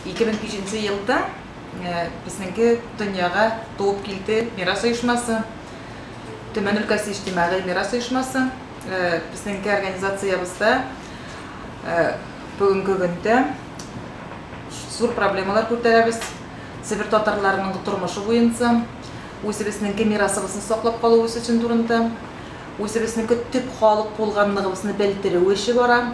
2005 нче елда безнеке дөньяга туып килде мирас оешмасы, Төмән өлкәсе иҗтимагый мирас оешмасы. Безнеке организациябездә бүгенге көндә зур проблемалар күтәрәбез, себер татарларының тормышы буенча, үзебезнеке мирасыбызны саклап калу өчен турында, үзебезнеке төп халык булганлыгыбызны белдерү эше бара.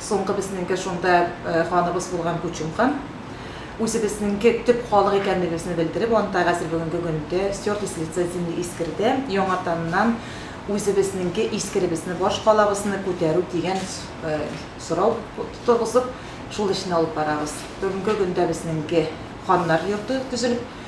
Соңгы безнеңке шунда ханыбыз булган Күчем хан, үзебезнеңке төп халык икәнлегебезне белдереп, анда хәзер бүгенге көндә стёрты с лица земли искерде, яңатаннан үзебезнеңке искеребезне, башкалабызны күтәрү дигән сорау торгызып, шул эшне алып барабыз. Бүгенге көндә безнеңке ханнар йорты төзелеп.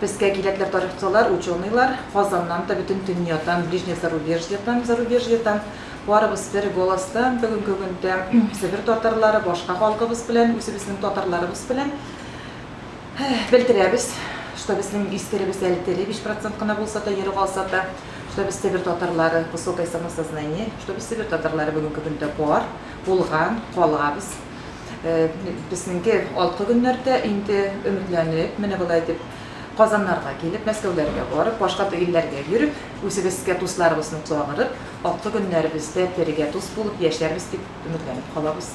Безгә кирәкләр тарихчылар, ученыйлар, Казаннан да, бөтен дөньядан, ближнее зарубежьедан, зарубежьедан, барыбыз бер голостан, бүгенге көндә Себер татарлары башка халкыбыз белән, үзебезнең татарларыбыз белән белдерәбез, что безнең истеребез әле тере, биш процент кына булса да, ере калса да, что без Себер татарлары, высокое самосознание, что без Себер татарлары бүгенге көндә бар, булган, калабыз. Безнеңке алкы көннәрдә инде өметләнеп, менә болай дип, Казаннарга килеп, Мәскәүләргә барып, башка илләргә йөреп, үзебезгә дусларыбызны чагырып, алкы көннәребездә бергә дус булып яшәрбез дип өметләнеп калабыз.